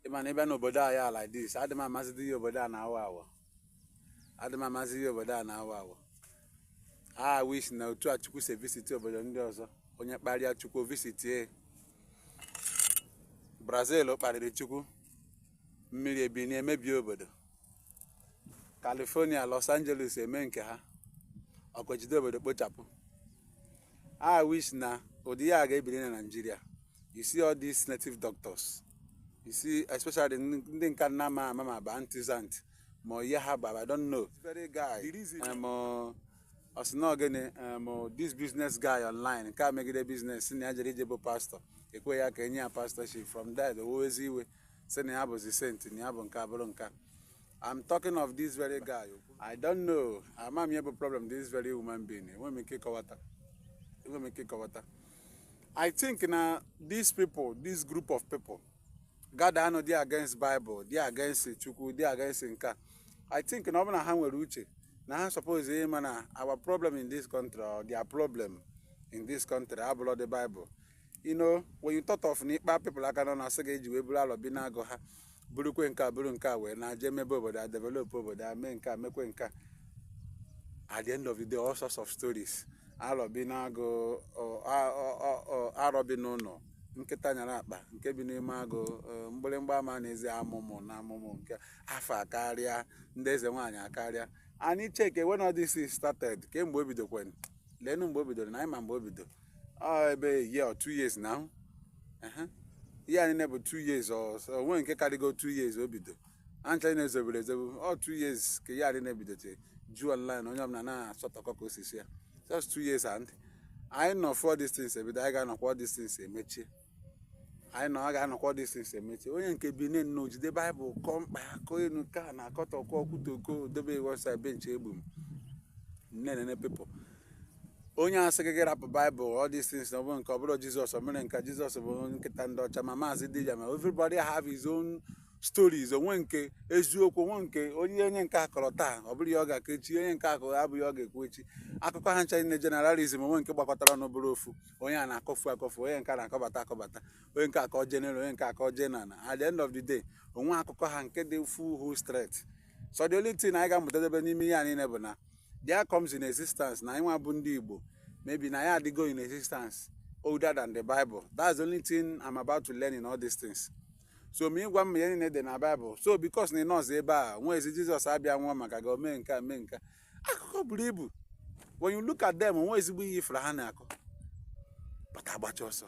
ịma na ịbịa n'obodo a ya like this adị m amazidị ihe obodo a na-awa awa adị m amazidị ihe obodo a na-awa awa I wish na otu a chukwu si visit obodo ndị ọzọ onye kparịa chukwu ọ visitie brazil kparịrị chukwu mmiri ebinie mebie obodo California Los Angeles eme nke ha ọkụ ejide obodo kpochapụ I wish na ụdị ya ga-ebiri na Naịjirịa you see all these native doctors you see especially ndị nke a nna ma ama ma ba antizant ma ihe ha bara I don't know this very guy um, uh, ọsị na ogene um, uh, this business guy online nke a megide business na ya jere ije bụ pastọ ekwe ya ka enye ya pastọship from there o wezie iwe sị na ya bụzi saint na ya bụ nke a bụrụ nke a I'm talking of this very guy I don't know ama m ihe bụ problem this very human being enwe m ike ịkọwata enwe m ike ịkọwata I think na these people this group of people gada anụ dị against Bible dị against Chukwu dị against nke a I think na ọ bụ na ha nwere uche na ha suppose ịma na our problem in this country or their problem in this country abụrọ the Bible you know when you thought of na ịkpa people aka nọ na asị ga-eji wee buru alọ bi n'agụ ha burukwe nke a buru nke a wee na-aje mebe obodo a develop obodo a mee nke a mekwe nke a at the end of the day all sorts of stories alọ bi n'agụ ọ- a- ọ- ọ- ọ- arọ bi n'ụlọ nkịta nyara akpa nke bi n'ime agụ eh, mgbịrịmgba ama na-ezi amụmụ na amụmụ nke afa akarịa ndị eze nwaanyị akarịa anyị cheke when all these things started kee mgbe o bidokwanụ leenụ mgbe o bidoro na anyị ma mgbe o bido ọ ebe a year or two years now Ehe. ihe a niile bụ two years or so, onwe nke karịgo two years o bido ha ncha niile zobere ezobe ọ two years ka ihe a niile bido iju online onye ọbụla na-asọtọkọ ka osisi ya just two years and anyị nọ fụ all these things ebido anyị ga-anọkwa all these things emechie anyị na ọ ga-anọkwa these things emechie onye nke binie nnọọ jide baịbụl kọọ mkpa ya kọọ enu nke a na-akọta ọkọ ọkwụta oko dobe websaị benchi egbu m nene nene people onye asị gị gị rapụ baịbụl all these things na ọ bụrụ nke ọ bụrụ jizọs o mere nka jizọs bụ nkịta ndị ọcha ma maazị dị ya ma everybody have his own stories onwe nke eziokwu onwe nke onye onye nke a kọrọ taa ọ bụrọ ihe ọ ga-akọ echi onye nke akụkọ abụghị ọ ga-ekwu echi akụkọ ha ncha niile generalism onwe nke gbakọtara ọnụ bụrụ ofu onye a na-akọfu akọfu onye nke a na-akọbata akọbata onye nke akọ jeneral onye nke akọ jeneral at the end of the day onwe akụkọ ha nke dị full whole straight so the only thing anyị ga-amụtadebe n'ime ihe a niile bụ na there comes in existence na anyị nwa bụ ndị Igbo maybe na anyị adịgo in existence older than the Bible that's the only thing I'm about to learn in all these things so ma ịgwa m ihe niile dị na Bible so because na ị nọ sọ ebe a wee zie Jizọs abịa nwụọ maka gị omee nke a mee nke akụkọ buru ibu when you look at them onwe ezigbo ihe ị fụrụ ha na-akọ but agbacha ọsọ